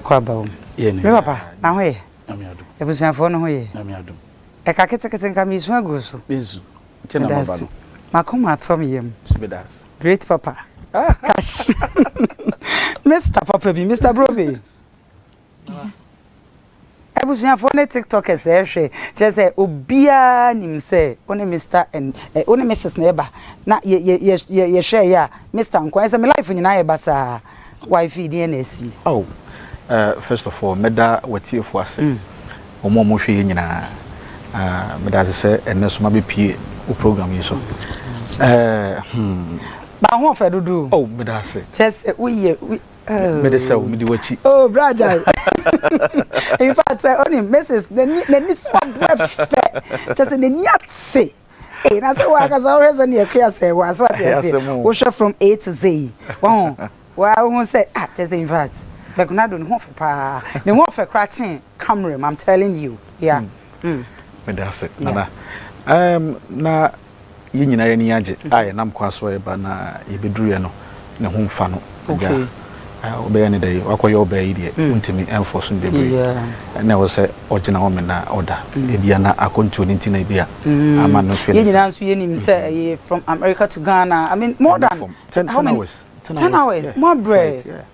Kɔ aba wom. Me papa, na ho ye? Abusuafoɔ no ho ye? Ɛka ketekete nka meresu aguo so. Medase. M'akoma atɔ me yam. Great papa. Kash. Mister papa bi, Mister Brobe. Abusuafoɔ ne tiktokers ɛrehwɛ kyerɛ sɛ obiara nim sɛ wo ne Mister and eh, wo ne Mrs na ɛba na yɛ yɛ yɛ yɛ yɛhwɛ yɛ a Mister nko ɛsɛ me life nyinaa yɛ ba saa wife deɛ na asi. Oh, uh, first of all, mɛda w'atiefo ase. Mm. Wɔn a wɔhwɛ yɛ nyinaa, uh, meda ase sɛ ɛnɛ so mabɛpie wo program yi so. Mm. Uh, hmm. Ba ho ɔfɛ dodo. Oh, meda ase. Kyɛ sɛ woyɛ mede sɛ mede w'akyi oh bra gyae in fact sɛ onim mrs n'ani so abo ɛfɛ kyɛ sɛ n'ani ate ee na sɛ wɔakasa wohwɛ sɛ neɛ kua sɛ wɔ aso ate ase wohwɛ from a to z wɔho waa wohu sɛ ah kyɛ sɛ in fact bɛkonado ne ho ɔfɛ paa ne ho ɔfɛ koraa kyee camera m i'm telling you yeah mm. mm. meda ase nana um, na yɛn nyinaa yɛn ani agye a yɛnam kwa so a yɛba na yɛbɛduruiɛ no ne ho mfa no agya wobɛyɛ ne dɛ wakɔyɛ ɔbaa yi deɛ wontumi ɛmfɔ so no bebree ɛna ɛwɔ sɛ ɔgyina hɔ me na ɔda ebia na akɔntuo no nti na ebia ama no fɛ yɛn nyinaa nso yɛnim sɛ ɛyɛ from America to Ghana I mean more than how many ten hours mo abrɛ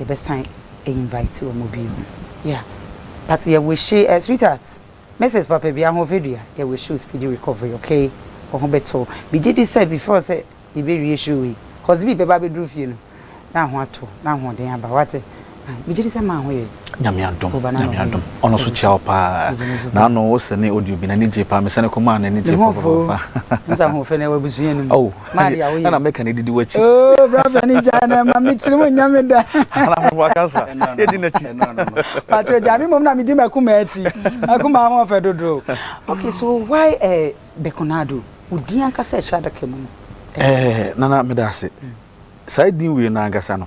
yɛbɛsan a invite wɔn bio yeah but yɛ wishi eh sweetheart Mrs Papabia Ahoɔfɛdua yɛ wishi wo speedy recovery okay wo ho bɛtɔ wo megye di sɛ before sɛ yɛbɛwie show wei Husby bɛba abɛduru fie no na wo ho atɔ wo na ahoɔden aba wo ate ahe megye di sɛ maa ho yɛ. Nyame adom, Nyame adom. Ɔno so kyia wo paa. Na ano wo se ne odi obi na ne gye paa. Me sane koma na ne gye paa paa. Nsa ho fe na wa busu yenu. Oh. Ma dia wo ye. Na me ka ne didi wa chi. Oh, bra fa ni ja na ma me tiri mu nyame da. Ana mo wa kasa. Ye di na chi. Patro ja me mom na me di ma kuma chi. Akuma ho fe dodo. Okay, so why eh Bekonado? Wo din ankasa ehra da ka mu no. Eh, nana me da ase. Sai din we na ankasa no.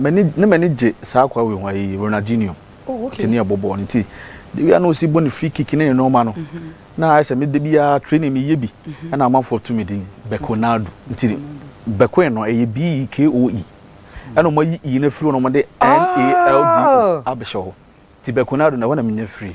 M'ani na m'ani gye saa akwadaa wei ho ayi Ronaldinho. Oh okay. Tini ɛbɔ bɔɔl nti de wia na osi bɔ ne free kick ne ne nneɛma no na ayɛ sɛ me de biara training mi yɛ bi ɛna amanfoɔ to me din Bekonado nti Bekoe no ɛyɛ B E K O E ɛna wɔn ayi E no firi hɔ na wɔn de N A L D O abɛhyɛ hɔ nti Bekonado na ɛhɔ na mi nya firi.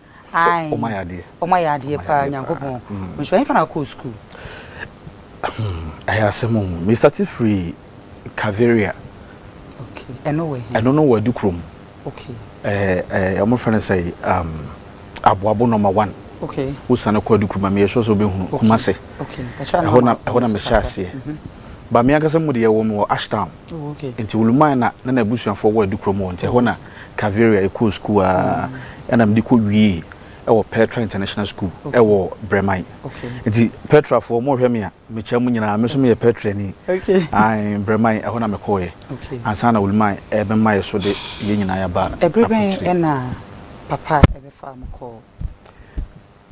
Ae. Ɔma yɛ adeɛ. Ɔma yɛ adeɛ paa Nyankopɔn. Nhyira hefa na wokɔɔ sukuu? Hmm, ɛyɛ asɛm o. Me starte firi Caveria. Okay. Ɛno wɔ he? Ɛno no wɔ adi kurom. Okay. Eh, eh, ɔmo frɛ no sɛ, um, aboabo nɔma one. Okay. Wosane kɔ adi kurom a, meyɛ sure sɛ wobɛhunu. Okay. Kumase. Okay. Ɛhɔ na, ɛhɔ na mehyɛ aseɛ. Mm -hmm. Ba me ankasa mu deɛ wɔn wɔ Ashtown. Oh, okay. Nti Oluman na na n'abusuafoɔ wɔ adi kurom wɔ nti ɛhɔ na Caveria yɛkɔɔ sukuu aa ɛna mede kɔ wiee ɛwɔ Petra International School ɛwɔ Brɛman nti Petra foɔ mo hwɛ me a mekyia mo nyinaa me nso meyɛ Petra ni ae Brɛman ɛhɔ na mekɔɔ yɛ ansa na Wuliman ɛbɛ ma yɛ so de yɛ nyinaa yaba Ɛbere bɛn ɛna papa ɛbɛ faa mo kɔɔ.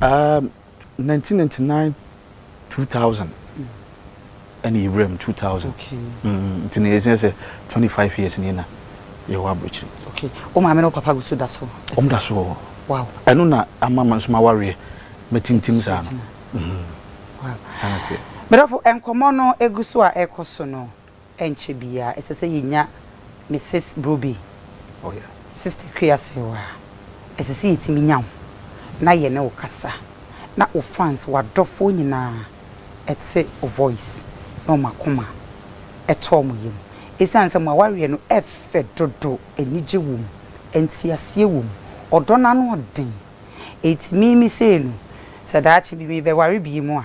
Um, nineteen ninety nine, two thousand, ɛna yɛ wura mu two thousand. Okay. Mm, nti na yɛ sɛ sɛ twenty five years ni na yɛ wɔ aburokyiri. Okay. O maame na o papa gusu da so. Wɔn da so wɔ. Wow. Ɛno na ama ma nso ma wareɛ mɛ tintim saa no. Mhm. Wow. Sanate. Mɛdɔfo nkɔmɔ no egu so a ɛkɔ so no. Ɛnkyɛ biara, ɛsɛ sɛ yenya Misis Broby, Sista Kwiasew a ɛsɛ sɛ yetumi nya wo na yɛne wo kasa, na wo fans, w'adɔfoɔ nyinaa te wo voice na wɔn akoma tɔ wɔn yam. Esiane sɛ mo awareɛ no ɛfɛ dodo, anigye wom, nteaseɛ wom, ɔdɔ no ano ɔden, enti me me sei no, sɛ daakye bi mebɛware bio a,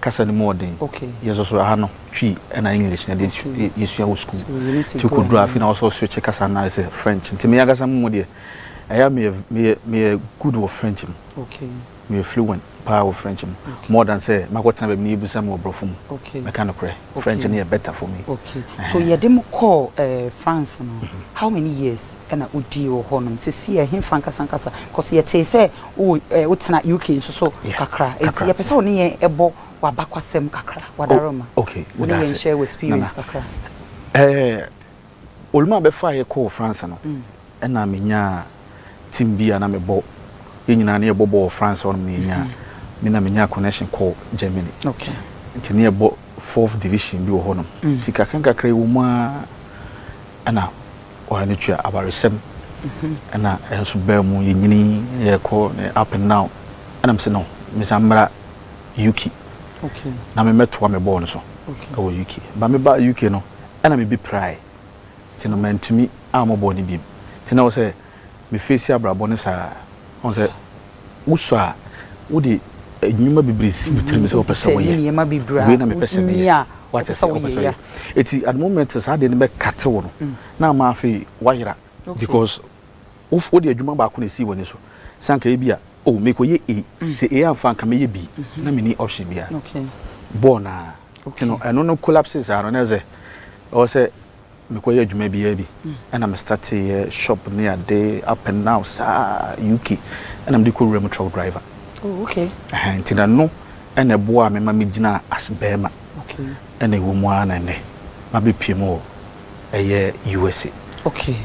kasa no mu wɔ den. Yɛsoso aha no, Twi na English na yɛde yɛsua wɔ sukuu. Nti wokɔduru afe no a, wɔ sɛ woswitche kasa no ayɛ sɛ French. Nti me ankasa me mu deɛ, ɛyɛ a meyɛ, meyɛ, meyɛ good wɔ French mu. Meyɛ fluent pa ara wɔ French mu, more than sɛ makɔtena baabi na yɛbisa me wɔ Borɔfo mu. Mɛka nokorɛ, French no yɛ better for me. So yɛde mo kɔɔ France no, how many years? na odii wɔ hɔ nom. Sesei ɛhefa ankasa ankasa? Cos yɛtee sɛ wo eh wo tena UK nso so kakra. Enti yɛpɛ sɛ wo ne yɛn ɛbɔ w'abakwasɛm kakra, w'adaroma. Oh okay, meda ase. Wo ne yɛn nhyɛ wo experience kakra. Eh Olumo a bɛfaa yɛ kɔɔ France no, ɛna me nyaa team bi a na me bɔ, yɛn nyinaa ne yɛ bɔ bɔɔl wɔ France hɔ nom na yɛ nyaa, me na me nyaa connection kɔɔ Germany. Okay. Nti ne yɛ bɔ fourth division bi wɔ hɔ nom. Nti kakra nkakra yi wɔ mu aa ɛna. Ɔhene no tua awaresɛm ɛna ɛnso baa mu yɛnyini yɛkɔ up and down ɛna mesɛ no mesan mmra UK na memmɛtoa me bɔɔl no so ɛwɔ UK ba meba UK no ɛna mebi prae nti no mantumi ammɔ bɔɔl no biom nti na wɔ sɛ mefeesi abrabɔ no saa ɔn sɛ Wosɔ a, wode nnwuma bebree si wo tirim sɛ wopɛ sɛ woyɛ. Wei na mepɛ sɛ meyɛ. Wate aseɛ? Wopɛ sɛ woyɛ. Enti at the moment saa adeɛ no bɛkate wo no, na ama afei woayera because wode adwuma baako na ɛsii w'ani so. Sɛ anka ebia, oh, merekɔyɛ A, sɛ A amfa a, anka mɛyɛ B. Na menni option biara. Bɔɔ no ara. Nti no, ɛno no collapsee saa no, na ɛsɛ sɛ, ɛwɔ sɛ. Mekɔyɛ adwuma biaa bi ɛna me starteɛ shop ne ade up and now saa UK ɛna mede kɔ wuram truck driver oh okay ɛhɛn nti na no ɛna ɛboa me ma me gyina as bɛɛma okay ɛna ɛwɔ mu ara na ɛnɛ mabɛ pie mu wɔ ɛyɛ USA okay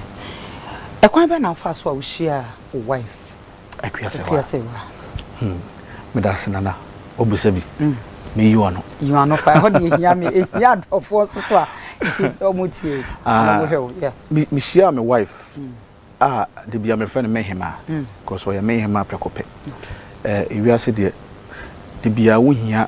ɛkwan bɛ na afa so a wohyia wo wife Akua sɛ wa. Hmm. Meda ase nana. Obisa bi. Mm. Me yi ɔno. Yi ɔno pa. Ɛhɔ de ehia me. Ehia adɔfoɔ soso a. Ɔmo tie. Ah. Ɔmo hwɛ o. Yeah. Me me hyia me wife. Mm. Ah, de bia me friend me hema. Mm. Cause ɔyɛ me hema prɛko pɛ. Okay. Eh, ewiase deɛ de bia wo hia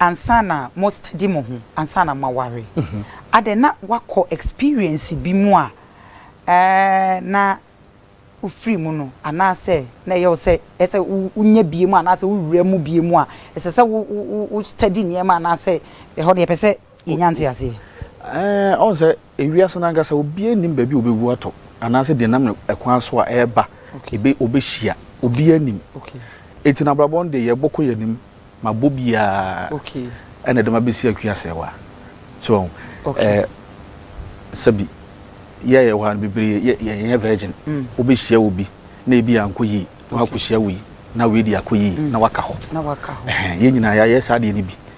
ansa na mo study mo ho ansa na mo aware adɛn na wakɔ experience bi mu a ɛɛ na wo firi mu no anaa sɛ na ɛyɛ wo sɛ ɛsɛ wo nya bie mu anaa sɛ wo wura mu bie mu a ɛsɛ sɛ wo wo wo study nneɛma anaa sɛ ɛhɔ deɛ ɛpɛ sɛ yɛnya nteaseɛ. Ɛɛ, ɔhu sɛ ewiase no ankasa obiara nnim baabi a obewu atɔ anaasɛ deɛ nam ne kwan so a ɛreba ebe obehyia. Obiara nnim. Enti no abrabɔ no deɛ yɛbɔ kɔ yɛn anim ma bɔ biara ɛna ɛde ma besi akua asɛewa. So wahu? Ɛɛ, sɛbi yɛ a yɛwɔ ha no bebree yɛ yɛnyɛ virgin. Wobehyia obi na ebi ankɔ yie na wakohyia wei na wei deɛ akɔ yie na waka hɔ. Ɛhɛn, yɛn nyinaa yɛayɛ saa adeɛ no bi.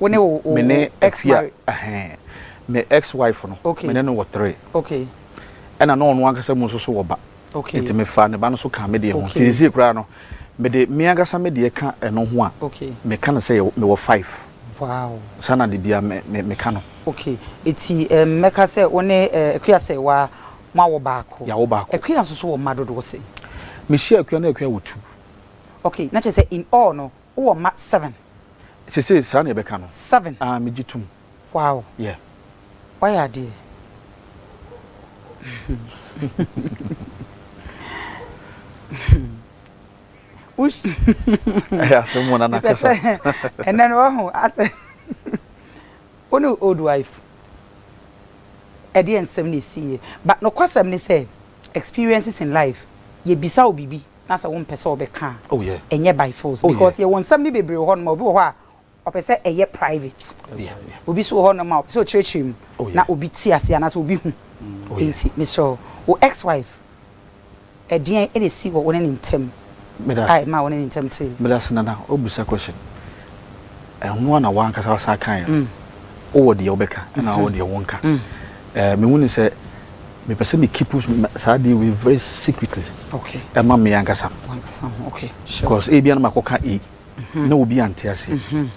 Wo ne wo me ne ex afia married. ɛhɛn me ex wife no Okay. me ne no wɔ three Okay. ɛna na ɔno ankasa mu nso so wɔ ba Okay. nti me fa ne ba no so kaa me deɛ ho Okay. nti seesei koraa no me de me ankasa me deɛ ka ɛno ho a Okay. me ka no sɛ yɛwɔ- mewɔ five Wow. saa na de bia me me me ka no Okay. Eti ɛm mɛka sɛ wo ne eh, Akua Sɛwa mo awɔ baako. Yɛawo baako. Akua nso so wɔ mma dodoɔ sɛn? me hyia akua na akua wɔ two Okay. Na kyerɛ sɛ in all no Wo wɔ mma seven. Sesei saa na yɛbɛka no. Seven. Aa me gye tum. Wow. Yeah. Wayɛ adeɛ. Ush. Ɛyɛ asɛm mu na nakasa. Ɛnɛ no wahu asɛ. Wo ne old wife. Ɛdeɛ nsɛm na ɛsiiɛ. But nokwasɛm ne sɛ experiences in life yɛbisa wo biribi. na sɛ wompɛ sɛ wɔbɛka a Oh yeah. ɛnyɛ by force Oh yeah. because yɛwɔ nsɛm no bebree wɔ hɔnom a obi wɔ hɔ a ɔpɛ sɛ ɛyɛ private, Oh yeah. Yeah. obi nso wɔ hɔnom a ɔpɛ sɛ ɔkyerɛkyerɛ mu Oh yeah. na obi te ase anaasɛ obi hu. Oh yeah. Enti mesrɛ wo, wo ex-wife, ɛdeɛn na ɛsi wɔ wo ne ne ntam Meda a ase. ɛmaa wo ne ne ntam tee? Meda ase Nana, wabisa question. Ɛno ara na w'ankasa w'asan kaeɛ no. Wowɔ deɛ wobɛka ɛna wowɔ deɛ wonka. Mehu no sɛ mepɛ sɛ me keep saa deɛ wei very secretly ɛma me ankasa. Because ebia na makɔka A mhm. na obi ante ase. Mhm.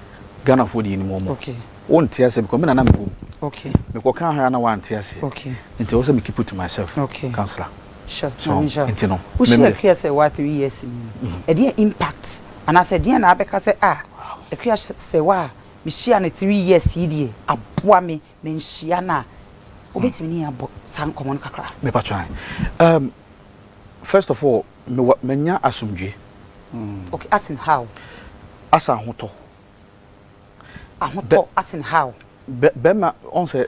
Ghanafoɔ deɛ nim wɔn. Wonte ase because me na na mewɔ mu. Mekɔka ha na wante ase. Nti ɛwɔ sɛ me keep it to myself. Councillor. Sure, Maame Nhyira. Nti no, Wo hyia memmerɛ. Akua sɛ waa three years ni no, ɛdeɛn impact anaa sɛ ɛdeɛn na abɛka sɛ ah, Akua sɛ waa me hyia no three years yi deɛ aboa me ma nhyia no a, wo bɛtumi ne yɛn abɔ saa nkɔmɔ no kakra? Me pa kyɛw ahe. Um, first of all, me wa, manya asomdwie. Okay, as in how? Asa ahotɔ. ahotɔ asen haw. Bɛma ɔn sɛ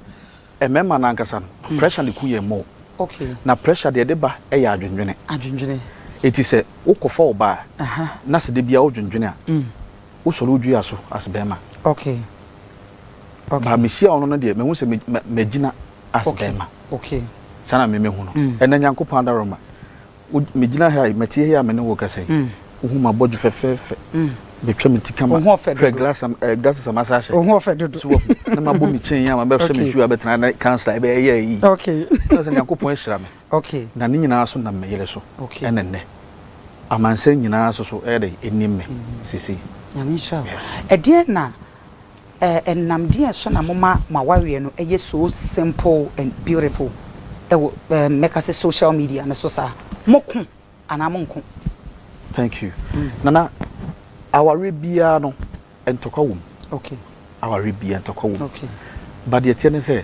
mmɛma no ankasa no pressure no ku yɛn more. Okay. Na pressure deɛ ɛde ba yɛ adwendwene. Adwendwene. Eti sɛ wokɔ fa ɔbaa na sɛ debia ɔdwendwene a wo sɔre odwi aso as bɛma. Okay. Okay. Ba me hyia ɔno no deɛ mehu sɛ mɛ gyina as bɛma. Okay. Saa na me mehu no. Ɛnɛ Nyankopɔn adaroma Wo de, megyina ha yi, mete he a me ne wo rekasa yi, wohu m'abɔdwe fɛfɛɛfɛ, matwa me ti kama. Wo ho ɔfɛ dodo. Hwɛ glass a, eh, glasses a masa ahyɛ. Wo ho ɔfɛ dodo. So wahu, na mabɔ me chain yi a mabɛhyɛ me shoe a bɛtena ne cancer a ɛbɛyɛ yɛɛ yi. Okay. Kyerɛ sɛ Nyankopɔn ahyira me. Okay. Na ne nyinaa so nam me yere so. Okay. Ɛne nnɛ. Amansan nyinaa so so ɛyɛ dɛn, ɛnim me seesei. Nyame nhyira wo. Yeah. Ɛdeɛn na Ɛnam deɛn so na moma mo awareɛ no yɛ so simple and beautiful wɔ mɛka sɛ social media no so saa? Moko anaa monko? Thank you. Nana, awareɛ biara no ntɔkwa wɔ mu. Okay. Awareɛ biara ntɔkwa wɔ mu. Okay. But deɛ ɛteɛ ne sɛ.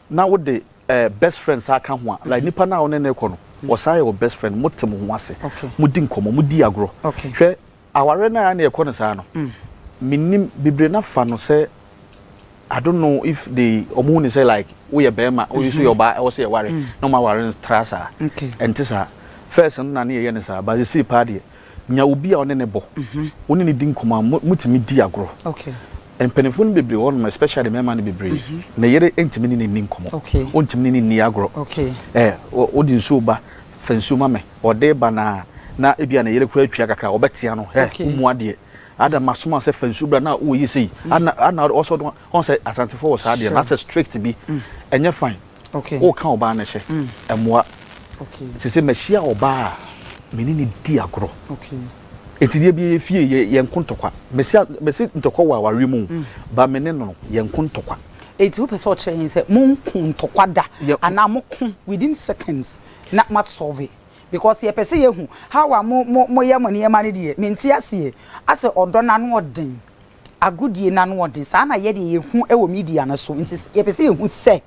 Na wo de eh best friend saa ka ho a like nipa no a wo ne no rekɔ no ɔsan yɛ wo best friend mo te mo ho ase mo di nkɔmɔ mo di agorɔ hwɛ awareɛ no a na ɛkɔ no saa no me nim bebree na fa no sɛ I don't know if they ɔmo hu no sɛ like wo yɛ bɛɛma wo nso yɛ ɔbaa ɛwɔ sɛ yɛ ware na ɔmo aware no tra saa ɛnte saa first no na ne yɛ yɛ no saa but sisei paa deɛ. Nya obi a wo ne no bɔ, wo ne no di nkɔmmɔ a motumi di agorɔ. Mpanimfoɔ no bebree wɔ hɔnom, especially mmarima no bebree, ne yere ntumi ne no nni nkɔmmɔ, ɔntumi ne no nni agorɔ. Wode nsuo ba, fa nsuo ma me, ɔde reba no ara na ebia ne yere koraa atua kakra a, ɔbɛtea no, Hɛ, wo mmu adeɛ. Ada, masoma wo sɛ fa nsuo bra na woyɛ sei. Ana ɔsɛ ɔde, ɔhu sɛ Asantefoɔ wɔ saa adeɛ no, asɛ strict bi, ɛnyɛ fine. woka ɔbaa no hyɛ, ɛmmoa. Sese mahyia ɔbaa a me ne no di agorɔ. Enti deɛ bia yɛfie yɛnko ntɔkwa. Mese ntɔkwa wɔ awareɛ mu o, but me ne no no yɛnko ntɔkwa. Enti wopɛ sɛ ɔkyerɛ yɛn sɛ monko ntɔkwa da anaa moko within seconds na mo asɔve? Because yɛpɛ sɛ yɛhu how a moyɛ mo nneɛma no deɛ, mente aseɛ. Asɛ ɔdɔ no ano ɔden agodie no anoɔden. Saa na yɛdeɛ yɛhu wɔ media no so, nti yɛpɛ sɛ yɛhu sɛ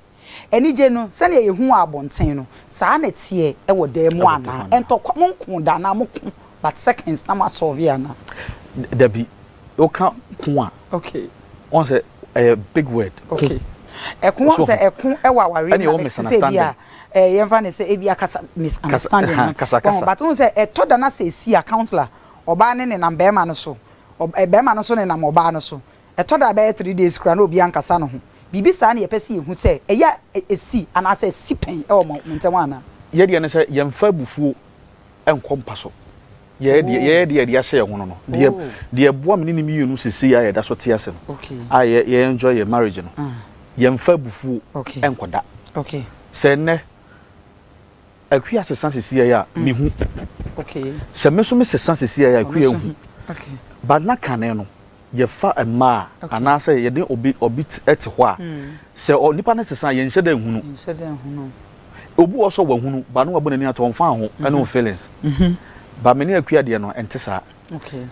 anigye no sɛdeɛ yɛhu wɔ abɔnten no, saa na ɛteɛ wɔ dan mu anaa. Ɛntɔkwa, monko da anaa moko but seconds na moasɔlve anaa. Dabi, woka ko a, woahu sɛ ɛyɛ big word, ko. Ɛko, woahu sɛ ɛko wɔ awareɛ mu na te sɛ bi a, yɛmfa no sɛ ebi a kasa, misunderstanding no, but wohu sɛ ɛtɔ da na sɛ ɛsi a, counsellor, ɔbaa no nenam barima no so, Ɔbarima no nso nenam ɔbaa no so. Ɛtɔ da a ɛbɛyɛ three days koraa na obi ankasa ne ho. Biribi saa na yɛpɛ sɛ yɛhu sɛ ɛyɛ a ɛsi anaasɛ asi pɛn wɔ mo ntam anaa. Yɛn deɛ ne sɛ yɛmfa abufuo nkɔ mpa so. Yɛyɛ deɛ yɛyɛ deɛ yɛde ahyɛ yɛn ho no no. Deɛ deɛ ɛboa me ne ne mmienu seesei a yɛda so te ase no, a yɛ yɛ enjoy yɛn marriage no, yɛmfa abufuo nkɔda. Sɛ nnɛ. Akua sesa sisiɛi a me hu sɛ me nso me sesa sisiɛi a akua hu but na kane no yɛ fa mmaa anaa sɛ yɛ de obi obi te hɔ a sɛ ɔ nipa no sesa a yɛ nhyɛ dɛ nhunu obi wɔ sɔ wɔ hunu but no wɔ bɔ n'ani ato ɔnfa ho ɛne o feelings but me ne akua deɛ no ɛnte saa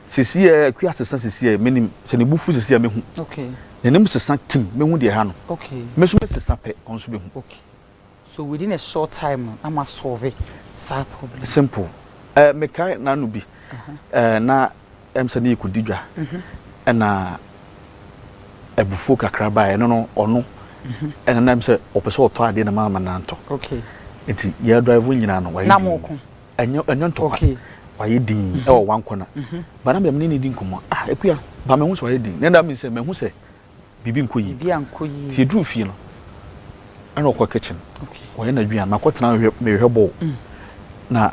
sisiɛi akua sesa sisiɛi me nim sɛ ne bu fu sisiɛi me hu n'anim sesa kim me hu deɛ ha no me nso me sesa pɛ ɔno nso bɛ hu. So within a short time no na ma solve saa problem. Simple eh me kae nano bi eh na em sɛ ne yɛ kɔdi dwa ɛna abufuo kakra baɛ ɛno no ɔno ɛna na em sɛ ɔpɛ sɛ ɔtɔ adeɛ na ma ama na ntɔ nti yɛ drive nyinaa no wayɛ din ɛnyɛ ɛnyɛ ntɔkwa wayɛ din ɛwɔ one corner ba na me dɛ me ne ne di nkɔmɔ ah akua ba mahu sɛ wayɛ din na ɛna me sɛ mahu sɛ biribi nkɔ yie. Biribi ankɔ yie. Nti yɛduruu fie no, ɛna ɔkɔ kitchen. Okay. Ɔyɛ n'adwene a, makɔtena hwɛ mehwɛ bɔɔl. Mm. Na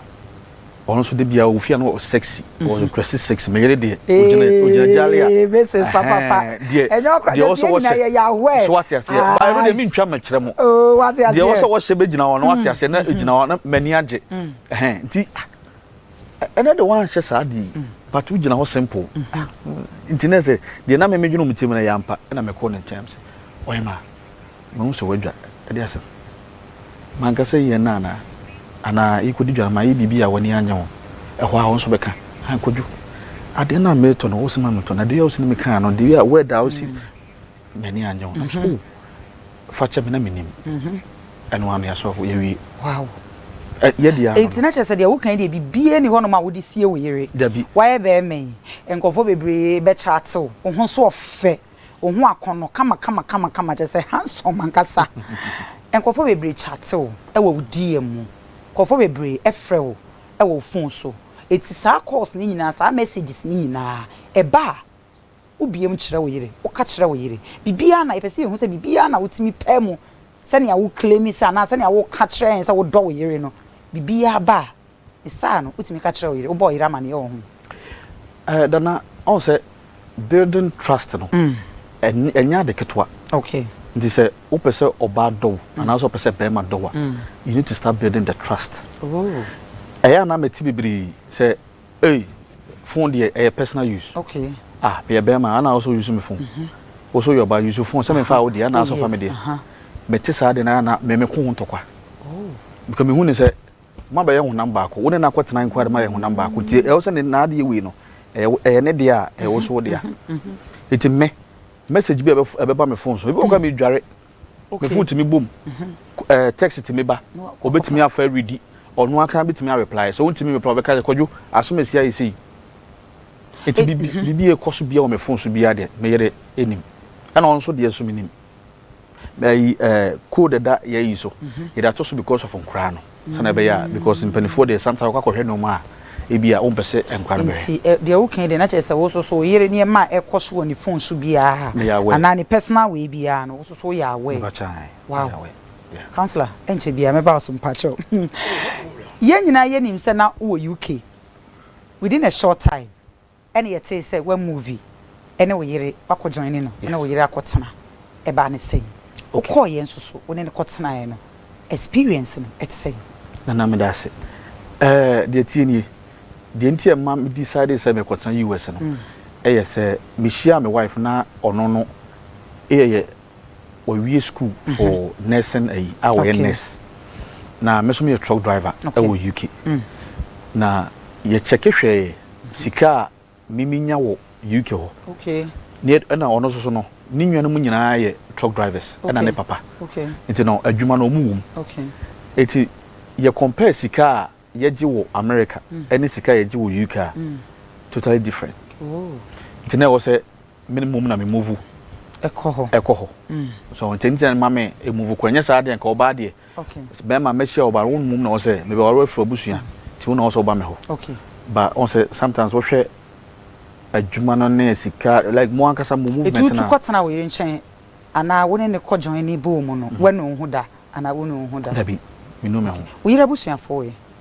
ɔno nso de bia ofia no sexy mm-hmm. ɔyɛ dressy sexy me yere deɛ ogyina ogyina gyale a this is papa pa deɛ deɛ ɔsɔ wɔhyɛ so wate aseɛ ah, baa ɛno deɛ mi ntwa mɛkyerɛ mo oh, deɛ ɔsɔ wɔhyɛ bɛgyina hɔ no wate mm. aseɛ na mm-hmm. egyina hɔ na mani agye mm. ɛhɛn nti ah, Ɛnɛ de wanhyɛ saa ade yi but wogyina hɔ simple nti na sɛ deɛ na meme dwene mu tirim no yɛ ampa na mekɔ ne nkyɛn sɛ ɔyɛ ma mahu sɛ wadwa ɛde asɛm manka sɛ yɛn na anaa anaa yɛkɔdi dwa ma yɛ biribi a w'ani anyɛ ho ɛhɔ a wo nso bɛka ankɔdwo adeɛ no a meretɔ no wo sɛ ma metɔ no adeɛ a wosi no mekaa no deɛ a word a wosi M'ani annye ho, na me so, oh, fa kyɛ me, na mennim. Ɛno ara no yɛasɔ afo, yɛawie. Wow! Ɛ, yɛ deɛ ano no. Enti na kyerɛ sɛ deɛ woka yi deɛ biribiara nni hɔnom a wode sie wo yere. Dabi. Woayɛ bɛrima yi, nkurɔfoɔ bebree bɛkyate wo, wo ho so ɔfɛ, wo ho akɔnnɔ kama kama kama kama, kyerɛ sɛ handsome ankasa. Nkurɔfoɔ bebree kyate wo wɔ wo DM mu, nkurɔfoɔ bebree frɛ wo wɔ wo phone so. Enti saa calls no nyinaa, saa messages no nyinaa, ɛba a. Wobue mu kyerɛ wo yere, woka kyerɛ wo yere biribiara na yɛpɛ sɛ yɛhu sɛ biribiara na wotumi pae mu sɛnea wo claim sɛ anaa sɛnea woka kyerɛ yɛn sɛ wodɔ wo yere no, biribiara ba a, ne saa no wotumi ka kyerɛ wo yere, wobɔ wo yere amanneɛ wɔ ho. Eh, Dana, ɔhu sɛ building trust no, ɛnyɛ ade ketewa. Okay. Nti sɛ wopɛ sɛ ɔbaa dɔ wo anaasɛ ɔpɛ sɛ barima dɔ wo a, you need to start building the trust. Oh. Ɛyɛ a na mete bebree sɛ. Ei phone deɛ ɛyɛ personal use. Okay. Ah meyɛ bɛɛma ana wosɛ wo use me phone. Mhm. Wosɛ woyɛ ɔbaa use phone sɛ me nfaa wo deɛ ana wosɛ wofa me deɛ. Oh yes. Mete saa deɛ na ana me me ko ho ntɔkwa. Oh. Because me hu ne sɛ mo abɛyɛ honam baako wo ne no akɔ tena nko ara de mo ayɛ honam baako nti ɛwɔ sɛ ne n'adeɛ wei no ɛyɛ ɛyɛ ne deɛ a ɛwɔ so wo deɛ a. Nti me message bi a ɛbɛba me phone so ebi wɔ hɔ koraa me dware. me phone tumi bom ɛɛ text tumi ba obetumi afa redi ɔno aka betumi a reply so ontumi reply ɔbɛka sɛ kwadwo asom esi ayɛ sei eti bibi mhm. bibi ekɔ so bia wɔ me phone so bia deɛ me yere enim ɛna ɔno nso deɛ so me nim ɛyi ɛɛ code da yɛ yi so mhm. yɛde ato so because of nkora no. sɛnea ɛbɛyɛ a, because mpanimfoɔ deɛ sometimes wokɔ akɔhwɛ nneɛma a ebi a wompɛ sɛ nkwadaa no bɛhwɛ. Nti ɛ deɛ woka yi deɛ na kyerɛ sɛ wo nso so wo yere nneɛma a ɛkɔ so wɔ ne phone so biara Meyɛ aware. anaa ne personal wei biara no wo nso so woyɛ aware. Mepa kyɛw ae, Wow. meyɛ aware. Yeah. Councillor, ɛnkyɛ biara mɛba wo so mpakyɛw. Yɛn nyinaa yɛnim sɛ na wowɔ UK within a short time. Ɛna yɛtee sɛ wa movi ne wo yere wakɔ joine no ne wo yere akɔ tena ɛbaa ne sɛn? Wo kɔɔ yɛ nso so wo ne no kɔ tenaɛ no experience no ɛte sɛn? Nana meda ase ɛɛ deɛ ɛteɛ nie deɛ nti a ɛma me decidee sɛ mɛkɔ tena US no ɛyɛ sɛ me hyiaa me wife na ɔno no yɛ yɛ Wawie school for nursing ayi a wɔyɛ okay. nurse na me nso meyɛ truck driver okay. wɔ UK mm. na yɛkyɛke hwɛɛ sika a meminya wɔ UK hɔ okay. ne ɛna ɔno nso so no ne nuanom nyinaa yɛ truck drivers okay. ɛna ne papa okay. nti no adwuma no ɔmu wom okay. nti yɛ compare sika a yɛgye wɔ America mm. ɛne sika a yɛgye wɔ UK a mm. totally different oh. nti na ɛwɔ sɛ Me mmom na me move kɔ hɔ. Ɛkɔ hɔ. So nti nti na ma me move kɔ. Ɛnyɛ saa deɛ nka ɔbaa deɛ. Okay. Bɛrima mɛhyia ɔbaa wo mmom na ɔwɔ sɛ mebɛ ware afiri abusua nti wo na ɔwɔ sɛ ɔba me hɔ. Okay. Ba ɔn sɛ sometimes wohwɛ adwuma no ne sika like mo ankasa mo movement na. Etu tu kɔ tena wo yere nkyɛn anaa wo ne ne kɔ join ne bowl mu no wɛnu wo ho da anaa wonu wo ho da. Dabi menu me ho. Wo yere abusuafoɔ wɔ he?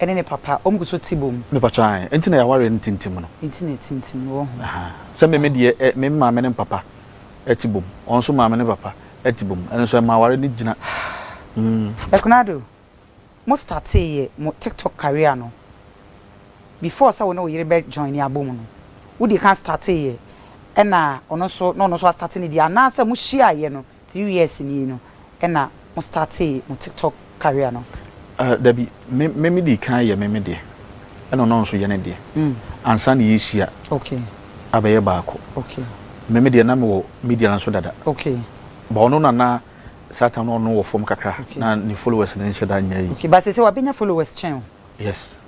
ɛne ne papa ɔmu gu so te bom. Me pakyɛw ae nti na yɛawareɛ no tintim no. Nti na tintim no wɔ ho. Ahaa sɛ me me deɛ ɛ me maame ne papa ɛte bom ɔno nso maame ne papa ɛte bom ɛno nso ɛma awareɛ no gyina mm. Ɛkonado, mo startee yɛ mo tiktok career no before sɛ wo ne wo yere bɛ joine abɔ mu no wo di kan startee yɛ ɛna ɔno nso na ɔno nso a starte ne deɛ anaa sɛ mo hyiaa yɛ no Three years nie no ɛna mo startee mo tiktok career no? Ahh dabi, me me dii kan yɛ me me deɛ ɛna ɔno nso yɛ ne deɛ ansa na yɛrehyia abɛyɛ baako. Me me deɛ na mewɔ media no nso dada but ɔno na na saa time no ɔno wɔ fam kakra na ne followers no nhyɛ da nyɛ yie. But seesei wabɛnya followers kyɛn wo? Yes.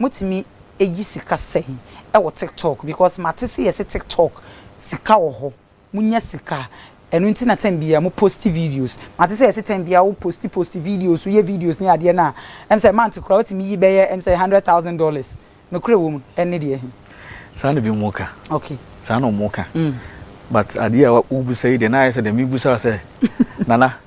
Motumi yi sika sɛn wɔ tiktok because mate se yɛse tiktok sika wɔ hɔ monya sika ɛno nti na time biaa mo post videos mate sɛ yɛse time biaa wo post post videos woyɛ videos ne adeɛ no a ɛm sɛ month koraa wotumi yi bɛyɛ ɛm sɛ hundred thousand dollars nokorɛ wɔ mu ɛne deɛ he. Saa na bi mo ka. Ok. Saa na ɔmo ka. But adeɛ a wobisa yi deɛ na ayɛ sɛ deɛ mebusa wo sɛ Nana.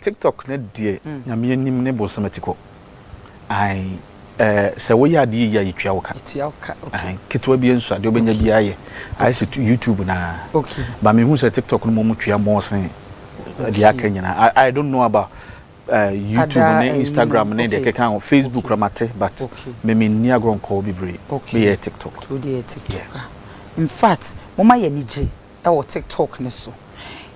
Tiktok ne deɛ nyame anim ne bonsam atikɔ ae eh sɛ woyɛ adeɛ yie a yɛtua wo ka ae ketewa bia nso adeɛ wobɛnya biaa yɛ ayɛ sɛ YouTube no aa but mehu sɛ tiktok no mmom tua more sen deɛ aka nyinaa I don't know about eh YouTube ne Instagram ne deɛ ɛkeka ho Facebook koraa mate but me menni agorɔ nkɔ hɔ bebree meyɛ tiktok yeah. Infact moma yɛni gye wɔ tiktok no so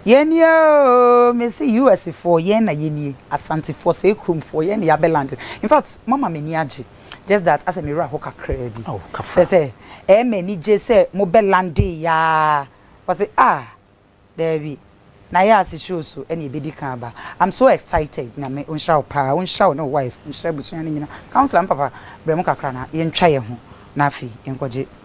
yɛni oo mesi us foɔ yɛn na yɛnie asantefoɔ sɛ kuromfoɔ yɛn na yɛabɛ land in fact mama m'ani agye just that asɛ me werɛ ho kakraa bi kyerɛ sɛ ɛyɛ m'ani gye sɛ mobɛ lande yaa wɔse ah daabi na yɛ ase show so ɛne ɛbɛdi kan aba I'm so excited nyame ɔnhyira wo paa ɔnhyira wo ne wo wife ɔnhyira abusua no nyina councilor me papa brɛ mu kakra na yɛntwa yɛ ho na afei yɛnkɔgye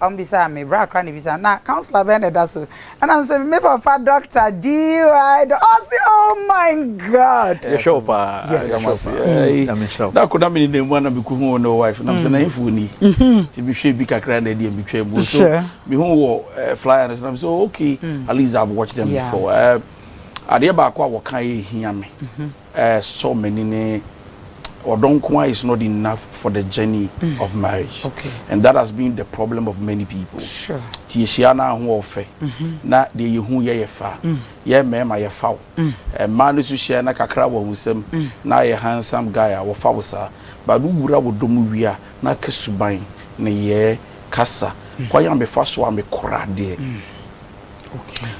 Wɔbisaa me, bra koraa na ɛbisaa me, na councilor bɛn na ɛda so? Ɛna me se, me papa Doctor DY Dɔ, ɔse oh my God! Yɛhwɛ wo paa. Yes. Nyame nhyira wo. Na ako na menenam mu a na mekɔhu wo ne wo wife na me sɛ na hefoɔ ni? Nti mehwɛɛ bi kakra na ɛdeɛ metwaa mu. So mehu wo wɔ flyer no so na me sɛ oh okay, at least I've watched them before. Adeɛ baako a wɔkaeɛ a ɛhia me, Ɛsɔ m'ani ne ɔdɔ nko ara is not enough for the journey of marriage and that has been the problem of many people. Nti yɛhyia no a ho ɔfɛ na deɛ yɛhu yɛ yɛ fa. Yɛn mmarima yɛfa wo. Mmaa no nso hyia na kakra wɔ ahusɛm na ayɛ handsome guy a wɔfa wo saa but wowura wɔ dɔ mu wie a na aka suban, nneyɛɛ, kasa, kwan a mefa so a mekora adeɛ.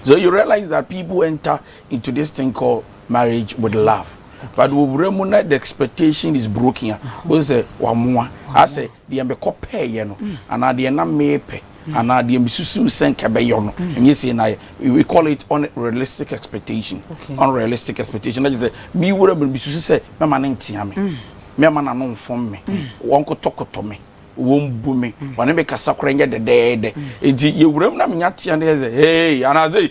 So you realize that people enter. into this thing called marriage with love but wɔwura mu na the expectation is broken a wɔn sɛ wɔamoa asɛ deɛ mekɔ pɛɛyɛ no anaa deɛ na meepɛ anaa deɛ mesusu sɛ nka bɛyɛ no ɛnyɛ sei na ayɛ we call it unrealistic expectation unrealistic expectation na kyerɛ sɛ mewura mu no mesusu sɛ mɛma no ntea me mɛma n'ano mfom me wɔn kotɔkotɔ me wɔn bu me wɔne me kasa koraa nyɛ dɛdɛɛdɛ nti yɛwura mu na menya tea no yɛ sɛ hey anaa sɛ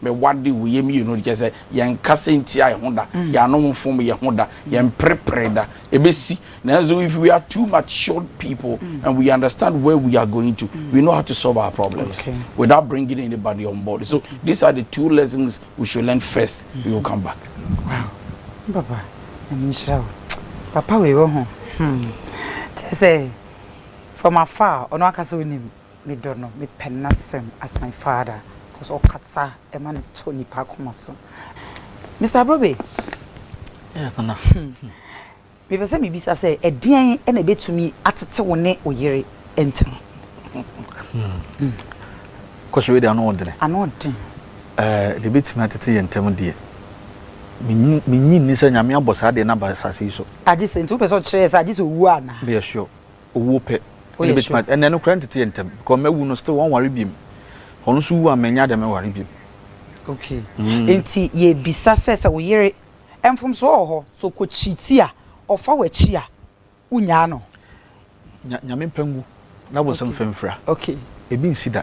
Me wade wo yam yie no de kyerɛ sɛ yɛn kasa ntia yɛn ho da, yɛn ano mfom yɛn ho da, yɛn mprepre da. Ɛbɛsi. Nanso if we are two matured people and we understand where we are going to, we know how to solve our problems without bringing anybody on board. So these are the two lessons we should learn first, we will come back. Wow. Papa, I'm sure. Papa, we were home. Hmm. Just say, from afar, on our castle name. Me dɔ no, me pɛ n'asɛm as my father cos ɔkasa ɛma no tɔ nipa akoma so. Mister Abrobe, Yes nana. me pɛ sɛ me bisa sɛ ɛdeɛn ɛna ɛbɛtumi atete wo ne wo yere ntɛm? Question wei deɛ ano ɔdene. Ano ɔden. Eh, deɛ ɛbɛtumi atete yɛ ntɛm deɛ, me nyi nni sɛ Nyame abɔ saa deɛ no aba asase yi so. Agye sɛ, nti wo pɛ sɛ ɔkyerɛ yɛ sɛ agye sɛ ɔwu anaa? Meyɛ sure. Owuo pɛ ɛna ɛbɛtumi a ɛna ɛno koraa ntete yɛ ntɛm because mawu no still wɔnware biom ɔno nso wu a mɛnya dɛ mɛware biom. Okay nti yɛbisa sɛ sɛ wo yere mfomsoɔ wɔ hɔ sɛ ɔkɔ cheati a ɔfa w'akyi a wonyaa no? Nya Nyame mpa ngu na bonsam mfa mfira ɛbi nsi da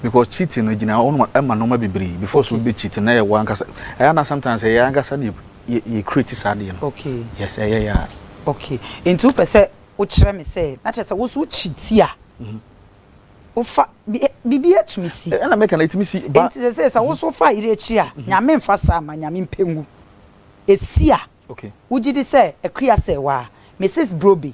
because cheating no ɛgyina hɔ ma nnoɔma bebree before sɛ obi bɛ cheat no na ɛyɛ wo ankasa ɛyɛ a na sometimes ɛyɛ yɛn ankasa na yɛ yɛ yɛ create saa adeɛ no okay yes ɛyɛ yɛ a. okay nti wopɛ sɛ wokyerɛ me sɛ na kyerɛ sɛ wo so wokyi ti a mhm. wofa biribi atumi si ɛna mɛka na ɛtumi si ba nti sɛ sɛ sɛ wo so fa yere akyi a mhm. nyame mfa saa ma nyame mpɛ ngu ɛsi a okay wogye di sɛ akua sɛ waa mrs brobe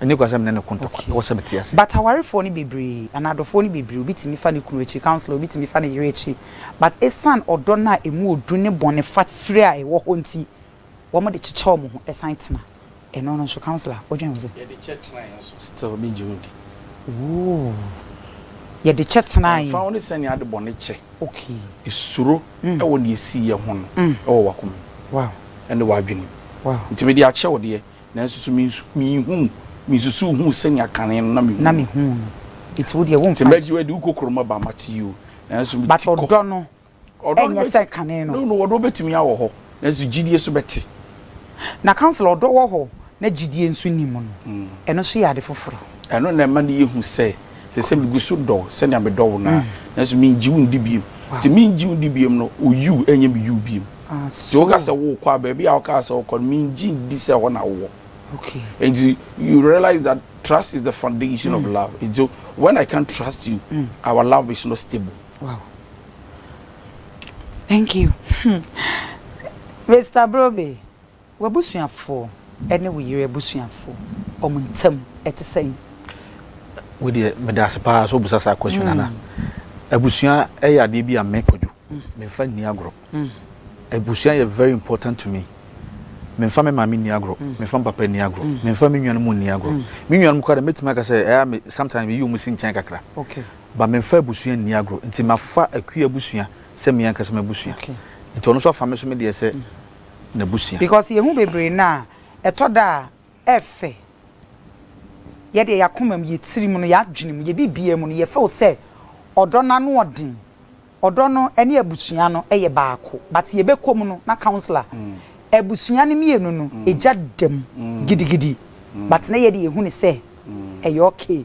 Ɛnyɛ kwa sɛ me ne no ko ntɔkwa, ɛwɔ sɛ mete ase. But awarefoɔ no bebree anaa adɔfoɔ no bebree obi tumi fa ne kunu akyi counsellor obi tumi fa ne yere akyi but esan ɔdɔ no a emu ɔdu ne bɔne fa fire a ɛwɔ hɔ nti wɔn de kyekyɛ wɔn ho ɛsan tena ɛno no nso counsellor wo dwen ho sɛ. Yɛde kyɛ tenae nso still me gye ho di. Ooh yɛde kyɛ tenae. Ɛmfa ho ne sɛnea ade bɔne kyɛ okay suro ɛwɔ nea ɛsii yɛ ho no ɛwɔ wakoma mu ɛne wadwene mu nti mede akyɛ wo deɛ. Nanso so minhuu, minsusuw huu sɛnea kan no na mihuu no? Na mihuu no. Enti wo deɛ womfa nkyɛ. Te Maggie wadi, wokɔ kurom aba a, mate yi o, nanso mete kɔ. But ɔdɔ no ɛnyɛ sɛ kan no. No, no, ɔdɔ betumi awɔ hɔ, nanso gyidie nso bɛte. Na councilor, ɔdɔ wɔ hɔ na gyidie nso nni mu no, ɛno nso yɛ ade foforo. Ɛno na ɛma no yɛ hu sɛ, sɛ sɛ migu so dɔ wo sɛnea medɔ wo no a, nanso mingye wo ndi bio. Te mingye wo ndi bio no, wo you nyɛ me you bio. Nti woka sɛ wokɔ a, baabi a wokaa sɛ wokɔ no, mengye nndi sɛ ɛhɔ na wowɔ. Nti you realize that trust is the foundation of love. Nti when I can't trust you, our love is not stable. Wow. Thank you. Mr. Brobe, W'abusuafo ne wo yere abusuafo, wɔn ntam ɛte sɛn? Wei deɛ meda ase paa sɛ wobusa saa question no ana abusua ɛyɛ adeɛ bi a me kwadwo memfa nni agorɔ abusua yɛ very important to me memfa me maame nni agorɔ memfa me papa nni agorɔ memfa me nuanom nni agorɔ me nuanom kora de mɛtumi aka sɛ ɛyɛ me sometimes meyi wɔn si nkyɛn kakra ba memfa abusua nni agorɔ nti mafa akua abusua sɛ me ankasa m'abusua nti ɔno nso afa me so me deɛ sɛ n'abusua. Because yɛhu bebree no a, ɛtɔ da a ɛfɛ. Yɛ deɛ y'akoma mu, yɛ tirim no, y'adwene mu, yɛ biribiara mu no yɛ feel sɛ ɔdɔ no ano ɔden. Ɔdɔ no ɛne abusua no ɛyɛ baako. But yɛ bɛkɔ mu no na councilor, abusua no mmienu no ɛgya da mu gidigidi but na yɛ deɛ yɛhu no sɛ ɛyɛ okay.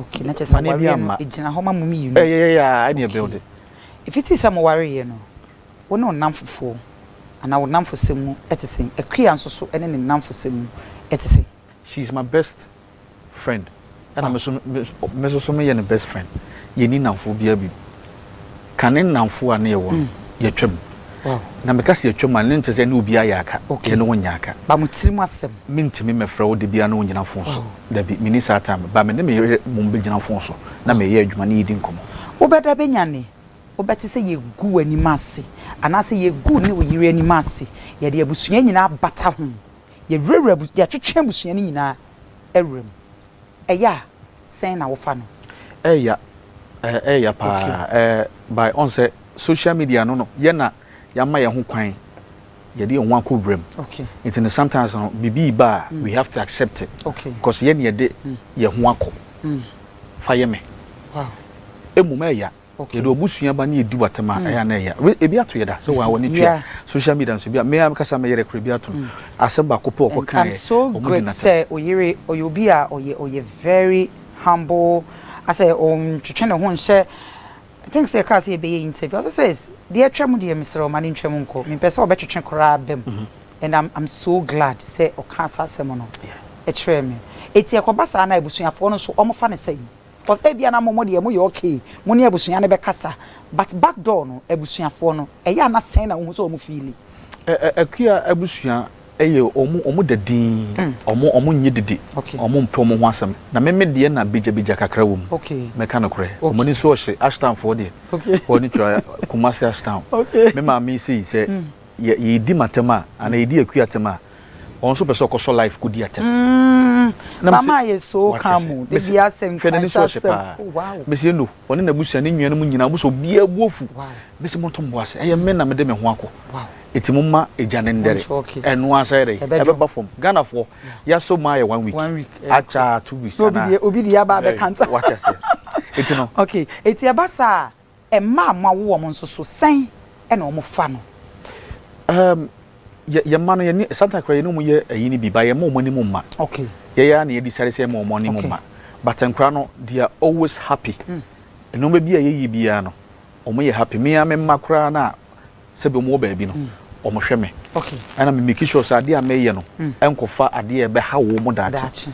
Okay, na kyerɛ sɛ Mane bi awareɛ no amma. ɛgyina hɔ ma mo mmienu. Ɛyɛ yɛ yɛ a ɛne ɛbɛw de. Ɛfiti sɛ mo wareeɛ no, wo ne wo nnamfofoɔ anaa wo nnamfosɛm mu te sɛn? Akua nso so ne ne nnamfosɛm mu te sɛn? She is my best friend, ɛna me nso me nso so meyɛ ne best friend. Yɛnni nnamfoɔ biara bio. Kane nnamfo a na yɛwɔ no, yɛatwam. Na meka sɛ yɛatwam a, na ɛnkyerɛ sɛ yɛne obiara yɛ aka. Yɛne wɔn nyɛ aka. Ba mo tirim asɛm. Mentumi mmɛfrɛ wo da biara ne wo ngyina fon so. Dabi, menni saa time. Ba me ne me yere mmom bɛgyina fon so na mereyɛ adwuma ne yɛredi nkɔmmɔ. Wobɛda bɛnyane, wobɛte sɛ yɛgu w'anim ase anaasɛ yɛgu wo ne wo yere anim ase. Yɛde abusua nyinaa bata ho. Yɛwurawura, yɛtwetwe abusua no nyinaa wuram. Ɛyɛ a, sɛn na wofa no? Ɛya eh ɛya paa okay. eh by on sɛ social media no no yɛ na yɛama yɛn ho kwan yɛde yɛn ho akɔ wuram okay. nti no sometimes no biribi ba a mm. we have to accept it okay. because yɛ ne yɛde mm. yɛn ho akɔ mm. fa yɛ me wow. emu mɛya Yɛde w'abusua ba ne yɛdi w'atɛm a, ɛyɛ a na ɛya. We- Ebi ato yɛ da sɛ wɔn a wɔne tua Yeah. social media nso bi a me ara mekasa me yere kora bi ato no. Asɛm baako pɛ a ɔkɔ And I'm kaeɛ, so wɔn di great n'atɛm. sɛ oyere ɔyɛ obi a ɔyɛ ɔyɛ very humble asɛ ɔntwetwe ne ho nhyɛ I think sɛ yɛkaa sɛ yɛbɛyɛ interview ɔsɛ sɛ "S- deɛ atwa mu deɛ mesrɛ wo ma no ntwa mu nkɔ mempɛ sɛ ɔbɛtwetwe koraa bam and I'm, I'm so glad sɛ ɔkaa saa asɛm no Yeah. ɛkyerɛɛ me ɛti ɛkɔba saa na abusuafoɔ no nso ɔmofa no sɛn Cos ebia na mo mo deɛ mo yɛ okay mo ne abusua no bɛkasa but back door no abusuafoɔ no ɛyɛ a na sɛn na wohu sɛ wɔn feeli. Akua abusua yɛ wɔn da dinn wɔn nyɛ didi wɔn mpɛ wɔn ho asɛm na me me deɛ na begya begya kakra wɔ mu mɛka nokorɛ wɔn ani nso ɔhye Ashtown foɔ deɛ wɔn ani tua Kumasi Ashtown me maame sei sɛ yɛ yɛdi matɛm a anaa yɛdi akua tɛm a Wɔn nso pɛ sɛ ɔkɔ sɔ life kɔ di atɛm. Mm, mama ayɛ so ka mo, de bi asɛ nkranhyɛ asɛm, oh wow. Mese no, ɔne n'abusua ne nnuanom nyinaa, ɔmo sɛ obiara agu afu. Mese monto mo bo ase, ɛyɛ me na mede me ho akɔ. Eti momma egya no ndɛre, ɛno ara nso ayɛ dɛn, ɛbɛba fam. Ghanafoɔ, yɛasɔ mu ayɛ one week, akyɛ a two weeks anaa. Na obi de yaba abɛka ntam. Wate aseɛ? Eti no. Okay, eti ɛba saa a, Mma a moawo wɔn nso so, sɛn na wɔfa no? Um, yɛ, yɛn mma no, yɛne, sometimes koraa yɛne wɔn yɛ ɛyi no bi, ba yɛmma wɔn anim mma. Okay. Yɛyɛ ara na yɛ decide sɛ yɛma wɔn anim okay. mma. But nkora no, they are always happy. Mm. Nneɛma bi a yɛyɛ biara no, wɔn yɛ happy. Mmea me mma koraa no a, sɛ binom wɔ baabi no, wɔhwɛ me na me make sure sɛ adeɛ a meyɛ no nkɔfa adeɛ a ɛbɛha wɔn daakye.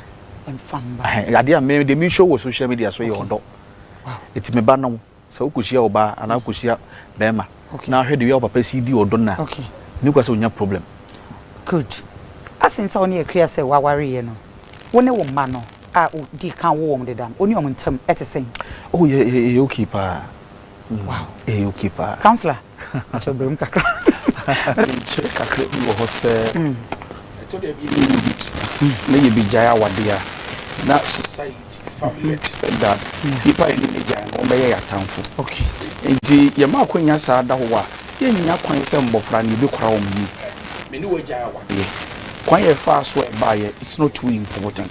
Adeɛ a me deɛ me show wɔ social media so yɛ ɔdɔ. Nti me ba no, sɛ wokɔhyia ɔbaa anaa wokɔhyia bɛrima na ahwɛ the way a wo papa si di ɔdɔ no a, nni kwa sɛ wonya problem. Good. Asen sɛ wo ne Akua sɛ woawareeɛ no, wo ne wo mma no a wodii kan woo wɔn deda no, wo ne wɔn ntam te sɛn? Oh, yɛyɛ okay paa. wow ɛyɛ okay paa councillor akyɛ ɔbrɛ mu kakra menkyerɛ kakra bi wɔ hɔ sɛ ɛtɔ da bi yɛ need na yɛbɛgyae awadeɛ a na society family expect that nipa yɛ ne gyae no wɔbɛyɛ yɛ atamfo nti yɛma akwanya saa da hɔ a yɛnya kwan sɛ mmɔfra no yɛbɛkora wɔn yie me ne wɔagyae awadeɛ kwan yɛ faa so ɛbaeɛ it's not too important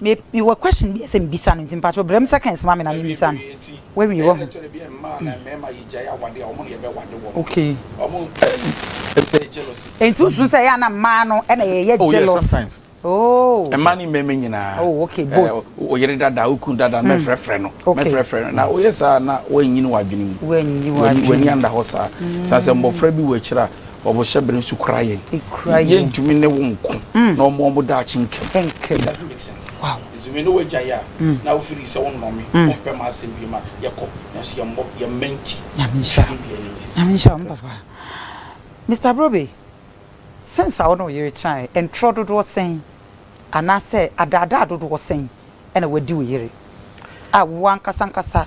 Me me wɔ question bi sɛ mbisa no nti mpakyɛw brɛ me seconds ma me na me mbisa no wawie wahu mm nti wo su sɛ ɛyɛ a na mmaa no ɛna yɛyɛ oh, jealous oh mmaa ne mmɛmɛ nyinaa oh okay eh, both o yere dada o kun dada mɛ frɛ frɛ no mɛ frɛ frɛ no na o yɛ saa na wɔnyini wɔ adwene mu wɔnyini wɔ adwene mu wɔnyini anda hɔ saa saa sɛ mbɔfra bi wɔ akyire a Ɔbohyɛ bere nso kura yɛn. Ekura yɛn. Yɛntumi ne wo nko na ɔmmɔ wɔn daakye nka mu. Nka mu. It doesn't make sense. Wow. Nso me ne wo agyae a, na wo feel sɛ wo nnome, wo mpɛ m'asɛm bio ma yɛkɔ. Nanso yɛn mmɔ, yɛn mma nti. Nyame nhyira wo. Don't be enemies. Nyame nhyira wo me papa. Mister Brobe, since a wo ne wo yere tenaeɛ, ntorɔ dodoɔ sɛn anaasɛ adaadaa dodoɔ sɛn na wadi wo yere a wo ankasa ankasa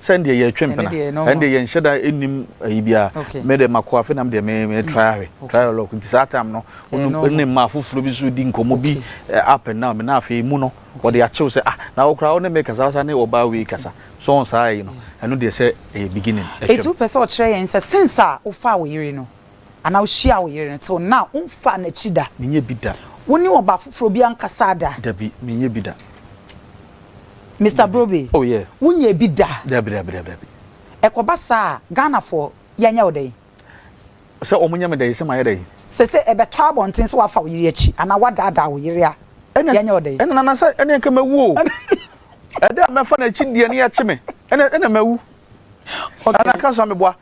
sɛ ndeɛ yɛ twe mpena ɛndeɛ yɛ nhyɛ da nim ayi bia me de mako afe nam deɛ me me try ahwɛ try a lock nti saa time no ɔno ne mma afoforɔ bi so di nkɔmɔ bi up and down me na afei mu no wɔde akyew sɛ ah na wɔkora ɔne me kasa asa ne ɔbaa wei kasa so wɔn saa yi no ɛno deɛ sɛ ɛyɛ beginning ɛtwam ɛtu pɛ sɛ ɔkyerɛ yɛn sɛ sense a wofaa wo yere no Anaa wohyiaa wo yere no tse wo nã a, womfaa n'ekyir da? Mennyɛ bi da. Wo nye ɔbaa fofor bi annkasaa da? Dabi, mennyɛ bi da. Mister Brobbey, Oh, yeah. Wonnyɛɛ bi da? Dabi, dabi, dabi, dabi. Ekɔba saa a, Ghanafo yɛnyɛ wo dɛn? Sɛ wɔnyɛ me dɛn? Sɛ mayɛ dɛn? Sese ebɛtɔ abɔntsen se wɔafa wo yere ekyir anaa wɔadaadaa wo yere a, Nna, yɛnyɛ wo dɛn? nna, nana, sɛ nna nka mewu o. Ɛda a mɛfa n'ekyir deɛ, nna yɛkye me. Nna, nna mewu. Ana ka so ameboa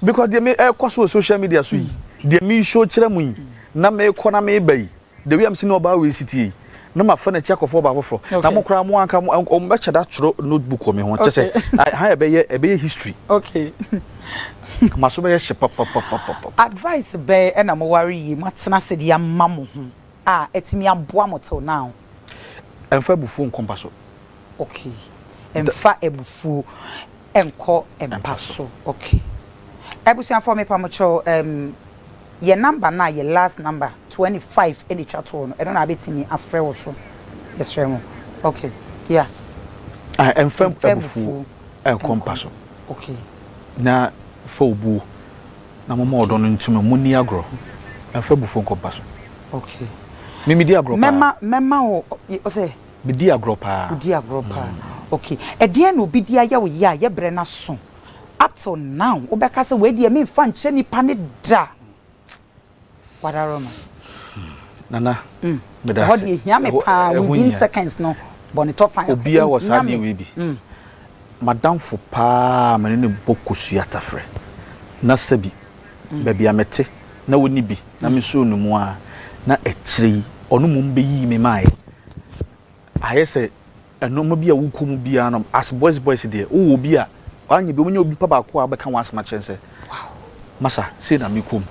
because deɛ me ɛkɔ so wɔ social media so yi mm. deɛ me show kyerɛ mu yi na me kɔ na me ba yi the way am si na ɔbaa wei si tie yi na ma fɛ na kyɛ kɔfɔ ɔbaa foforɔ na mo koraa mo anka mo ɔmo bɛkyɛ da twerɛ notebook wɔ me ho kyɛ sɛ ha ɛbɛyɛ ɛbɛyɛ history okay ma so bɛyɛ hyɛ papapapapa. advice bɛɛ ɛna mo wari yi mo atena se de ama mo ho a ɛtumi aboa mo till now. ɛnfa ebufuo nkɔmpa so. Ok mfa abufuo nkɔ mpa so ok. Abusuafoɔ me pa mo kyɛw ehm yɛ number no a yɛ last number twenty five ɛna ɛtwa toɔ no ɛno na abɛ tumi afrɛ wo so yɛsrɛ mo ok yeah. Ah mfa abufuo nkɔ mpa so ok na fa obuo na mo ma ɔdɔ no ntumi mo nni agorɔ mfa abufuo nkɔ mpa so ok me me di agorɔ paa mɛma mɛma wo ɔsɛ Medi agorɔ paa. Wodi agorɔ paa. Ok. Ɛdeɛn na obi de ayɛ wo yea yɛ berɛ no aso. Up till now wobɛka sɛ wei deɛ memfa nkyɛ nipa no da. Wadaworo no. Nana, meda ase. Ɛhɔ deɛ ɛhia me paa. Ɛho hia. Within seconds no, bɔ ne tɔfa. Obiara wɔ saa adeɛ wei bi. M'adamfo paa a me ne no bɔ kosua tafrɛ, na sɛbi, baabi a mete na ɔnni bi na mesoo no mu ara na akyire yi ɔno mmom bɛyii me maeɛ. Ayɛ sɛ nnoɔma bi a wokɔ mu biara no as boys boys deɛ wowɔ obi a wanyɛ bi wobɛnya obi pa baako a wobɛka w'asɛm akyerɛ no sɛ masa sei na mekɔ mu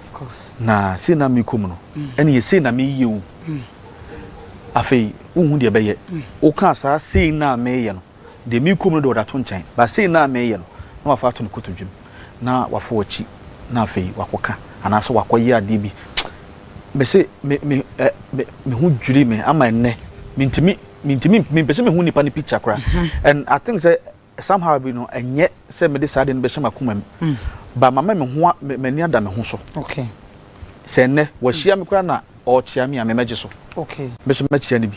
na sei na mekɔ mu no ɛneɛ sei na meyɛ o afei wohu deɛ ɛbɛyɛ wokaa saa sei na meyɛ no Deɛ merekɔ mu no deɛ ɔde ato nkyɛn, but sei no a mereyɛ no, na wafa ato ne kotodwem, na wafa w'akyi, na afei wakɔka anaasɛ wakɔyɛ adeɛ bi. Mese me, me, ɛ, me, me ho dwiri me ama ɛnnɛ. Mentumi, mentumi, mempɛ sɛ mehu nipa no picture koraa. And I think sɛ somehow bi no, ɛnyɛ sɛ mede saa adeɛ no bɛhyɛ m'akoma mu, but mama me ho a, me, m'ani ada me ho so. Okay. Sɛ ɛnnɛ, wahyia me koraa na ɔrekyea me a, me mmɛgye so. Okay. Mese mɛkyea no bi.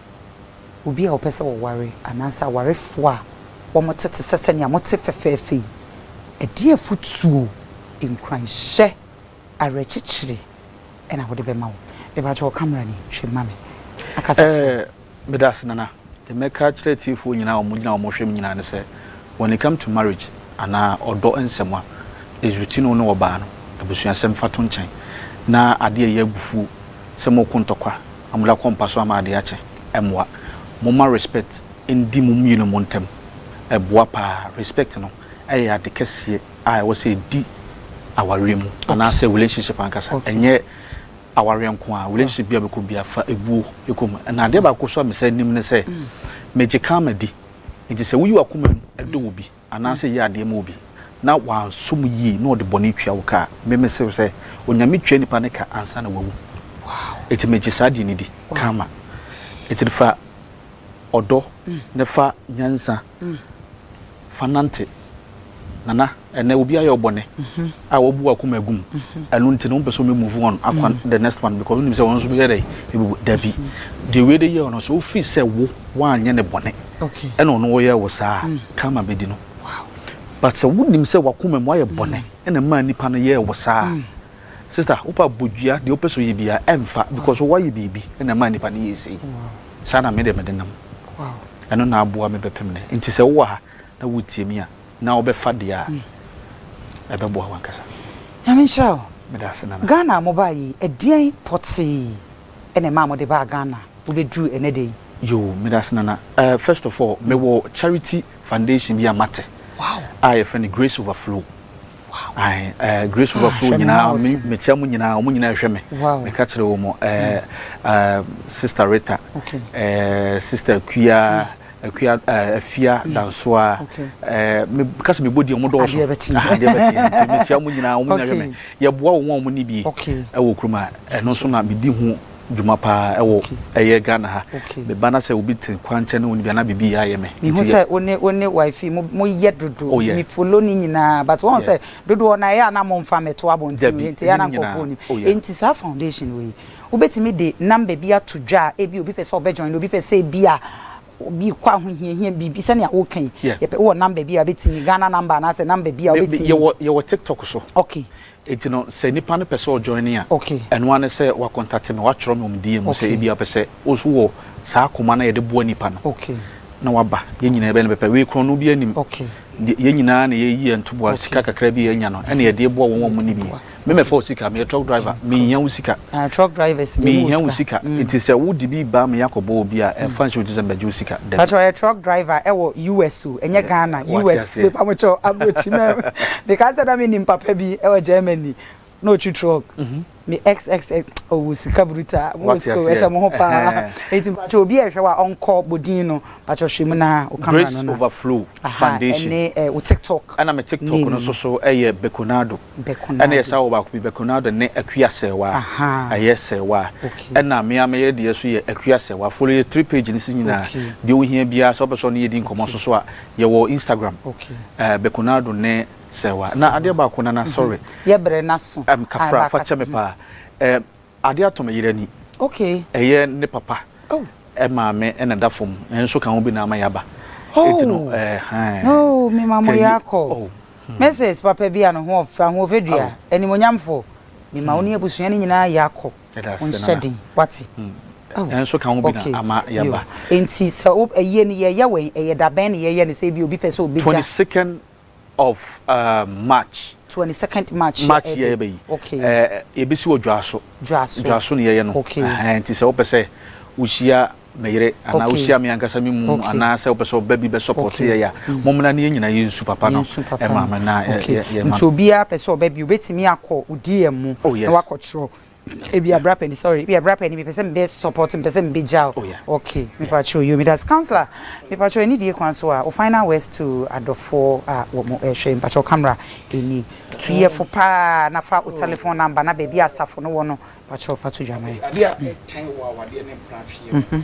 obi a ɔpɛ sɛ ɔware anaasɛ awarefo a wɔte te sɛ sɛnea mote fɛfɛɛfɛ yi, ɛdeɛn afotuo, nkuranhyɛ, awerɛkyekyerɛ na wode bɛma wɔn? Mepakyɛ wo, camera ni, hwɛ ma me na kasa kyerɛ wɔn. Meda ase Nana. Deɛ mɛka akyerɛ atiefoɔ nyinaa a wɔgyina hɔ a wɔhwɛ me nyinaa ne sɛ, when it come to marriage anaa ɔdɔ nsɛm a, it's between wo ne ɔbaa no, abusuasɛm fa to nkyɛn, na adeɛ a ɛyɛ abufuo sɛ moɔko ntɔkwa, Amda kɔ mpa so ama ade akye. Ɛmmoa. Momma respect ndi mo mmienu mo ntam. Ɛboa paa. Respect no ɛyɛ ade kɛseɛ a ɛwɔ sɛ ɛdi awareɛ mu anaa sɛ relationship ankasa. Ɛnyɛ awareɛ nko ara. Relationship biara bɛkɔ biara fa ɛbuo ɛkɔ mu. Na adeɛ baako nso a mesan nim ne sɛ, megye karma di. Nti sɛ woyi w'akoma mu dɔ obi. anaasɛ yɛ adeɛ ma obi na wansom yie na ɔde bɔne tua wo ka a, me mese wo sɛ, Onyame tua nipa no ka ansa na wawu. Enti megye saa deɛ no di, Karma. Enti no fa ɔdɔ ne fa nyansa fa nante. Nana, ɛnnɛ obi ayɛ wo bɔne a wabu w'akoma agu mu, ɛno nti no wopɛ sɛ ɔmɛ move on akɔ the next one because wonim sɛ ɔno nso bɛyɛ dɛn? Ɛbɛbu. Dabi. Deɛ wei de yɛɛ wo no, sɛ wofiri sɛ wo woanyɛ no bɔne, ɛna ɔno ɔyɛ wo saa a, karma bɛdi no. But sɛ wonim sɛ w'akoma mu woayɛ bɔne ɛna ɛmaa nipa no yɛɛ wo saa a, sister wopɛ a bɔ dua, deɛ wopɛ sɛ ɔyɛ biara ɛmfa because woayɛ biribi ɛna ɛmaa nipa no yɛɛ sei. Saa na me deɛ mede nam. Ɛno na aboa me bɛpem nnɛ. Nti sɛ wowɔ ha na wotie me a na wobɛfa deɛ a ɛbɛboa wo ankasa. Nyame nhyira wo. Meda ase Nana. Ghana a mobaa yi, ɛdeɛn pɔtee ɛna ɛmaa mode baa Ghana wobɛduru ɛnɛ da yi? Yoo medase nana eh first of all me wɔ charity foundation bi a mate a yɛfrɛ no grace overflow ae eh grace ah, overflow nyinaa me mekyɛ mo nyinaa wɔn nyinaa ɛhwɛ me meka kyerɛ wɔn eh, hmm. eh sister Rita eh sister Kuya hmm. Kuya eh, Afia hmm. Dansoa eh me kasa me body wɔn dɔɔso adeɛ bɛkyi ah, adeɛ bɛkyi nti mekyɛ wɔn nyinaa wɔn nyinaa ɛhwɛ me yɛboa wɔn a wɔn ni bi ɛwɔ kurom a ɛno nso na medi ho. dwuma paa ɛwɔ ɛyɛ Ghana ha me ba na sɛ obi te kwan kyɛ ne wo nibia na bibi yɛ ayɛ me. Me hu sɛ wo ne wo ne wife mo mo yɛ dodo me follow ne nyinaa but wɔn sɛ dodo ɔna ɛyɛ a na mo nfa mɛto abɔnten wei nti ɛyɛ a na nkɔfoɔ nim nti saa foundation wei wo bɛtumi de number bi ato dwa a ebi obi pɛ sɛ ɔbɛ join obi pɛ sɛ ebi a obi kɔ ahohiahia biribi sɛnea woka yi yɛpɛ wɔ number bi a bɛtumi Ghana number anaasɛ number bi a wobɛtumi yɛwɔ yɛwɔ tiktok so okay Enti no sɛ nipa no pɛ sɛ ɔjoine a, ɛno ara ne sɛ wakɔntate me, watwerɛ me wɔ me DM mu sɛ ebia ɔpɛ sɛ wo nso wɔ saa koma no a yɛde boa nipa no na waba. Yɛn nyinaa yɛbɛyɛ no pɛpɛ. Wei korɔno biara nnim. Yɛn nyinaa na yɛyi yɛn ntoboa, sika kakra bi a yɛanya no na yɛde boa wɔn a wɔnni bi. Me mɛfa wo sika, meyɛ truck driver, menhia wo sika. Menhia wo sika nti sɛ wo de bi ba me akɔ bɔ obi a ɛnfa nhyɛ wo tiri sɛ mɛgye wo sika dabi. Pacho ɔyɛ truck driver wɔ US o ɛnyɛ Ghana US mepa mo kyɛw abrokyi mɛm me ka sɛ na me nim papa bi wɔ Germany na ɔtwi truck me xxx ɔwɔ sika brutaa mo wɔ sika o ɛhyɛ mo ho paa nti mpakyɛw obi a ɛhwɛ wo a ɔnkɔ Bodin no Pacho hwɛ mu na wo camera Grace no na. Overflow Aha, Foundation. ɛne eh, wo TikTok. Ɛna me TikTok name no no. nso so yɛ Bekonado. Bekonado. Ɛna yɛ saa wɔ baako bi Bekonado ne Akua Sɛɛwa. Aha. Ɛyɛ Sɛɛwa. Okay. Ɛna me ara me yere deɛ nso yɛ Akua Sɛɛwa. Follow yɛ three page no so nyinaa. Okay. Deɛ wohia biara sɛ wopɛ sɛ ɔne yɛ di nkɔmmɔ nso so a, yɛwɔ Instagram. Okay. Eh, Bekonado ne Sɛɛwa. Na Sɛɛwa. adeɛ baako nana sorry. Yɛbrɛ n'aso. Ɛm, kafra, Aba fa kyɛ kasa. me paa. Ɛm, Ade atɔ me yere ani. Okay. Ɛyɛ ne papa. Oh. Maame na ɛda fam. Yɛn nso ka ho bi na ama yɛaba. Oh. Eti no ɛhan. No, me ma mo yɛ akɔ. Oh. Hmm. Mrs. Papa bi a ne ho ɔfɛ ahoɔfɛdua, oh. animonyamfo. Me ma wo ne abusua no nyinaa yɛ akɔ. Ɛda ase nana. Nhyɛ den. Wate? Hmm. Oh. Yɛn nso ka ho bi okay. na ama yɛaba. Enti sɛ ɛyɛ no yɛyɛ wɛn ɛyɛ dabɛn na yɛyɛ no sɛ ebi obi pɛ sɛ obegya. 22nd of march. Twenty second march yɛ ɛbɛ yi. March yɛ ɛbɛ yi. Ɛɛ yɛbɛ si wɔ dwaso. Dwaso. Dwaso na yɛyɛ no. Ɛhɛn nti sɛ wopɛ sɛ wohyia me yere anaa wohyia me ankasa me mu anaa sɛ wopɛ sɛ ɔba bi bɛ support yɛ ya mo mmena ne yɛn nyinaa yɛn nsu papa no. Nsu papa no. Ɛma me na yɛ yɛ ma. Nti obiara pɛ sɛ ɔba bi obetumi akɔ DM mu na wakɔtwerɛ. Ebia bra pɛni sorry ebia bra pɛni mepɛ sɛ mebɛ support mepɛ sɛ mebɛ gya o ok mepa kyɛw yo medase councilor mepa kyɛw ɛni die kwan so a wo final words to adɔfoɔ a wɔ mo ɛhwɛ mepa kyɛw camera ɛni tu yɛ fo paa na fa o telephone number na baabi a asafo no wɔ no pa kyɛw fa to dwa ma yɛ. Adeɛ a ɛtan wɔ awadeɛ ne mpena atweɛ mu.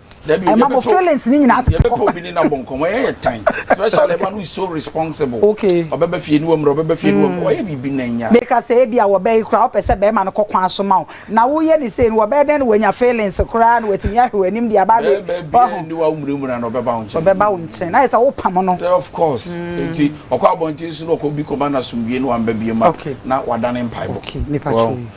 ɛma mo feelings ni nyinaa tete kɔ. obi ni na bɔ nkɔmɔ ɛyɛ yɛ tan especially ɛma no is so responsible ɔbɛba fie ni wɔ mmerɛ ɔbɛba fie ni wɔ mmerɛ ɔyɛ biribi na nya. meka sɛ ebi a wɔbɛ yi koraa wopɛ sɛ bɛrima no kɔ kwan so ma wo na woyɛ ne sei no wɔbɛyɛ dɛn na wanya feelings koraa na watumi ahwɛ w'anim de aba abɛ bɛrima bi a ni wa wo mmuramura na ɔbɛba wo nkyɛn ɔbɛba wo nkyɛn na ayɛ sɛ wopam no. of course nti ɔkɔ abɔnten so na ɔkɔ bi kɔba no asomdwie na wamba biem a na wadane mpaebɔ.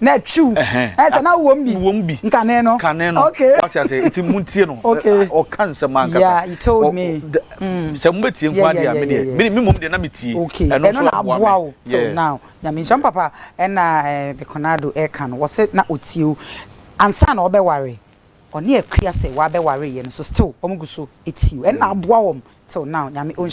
Na true. Ɛhɛn. Sɛ na wo wɔm bi. Wo wɔm bi. Nkane no. Nkane no. Okay. Wate aseɛ nti mo ntie no. Okay. Ɔka nsɛm ankasa. Yeah, you told me. Sɛ mo bɛ tie nko adeɛ a me deɛ. Me me mom deɛ na me tie. Okay. Ɛno nso aboa me. Ɛno na aboa wo. Till now. Nyame nhyira mo papa. Ɛna ɛɛ Bekonado ɛka no wɔsɛ na ɔtie o. Ansa na ɔbɛ ware. Ɔne Akua sɛ wabɛ ware yɛ no so still wɔn gu so tie o. Ɛno na aboa wɔn till now. Nyame ɔnhyira.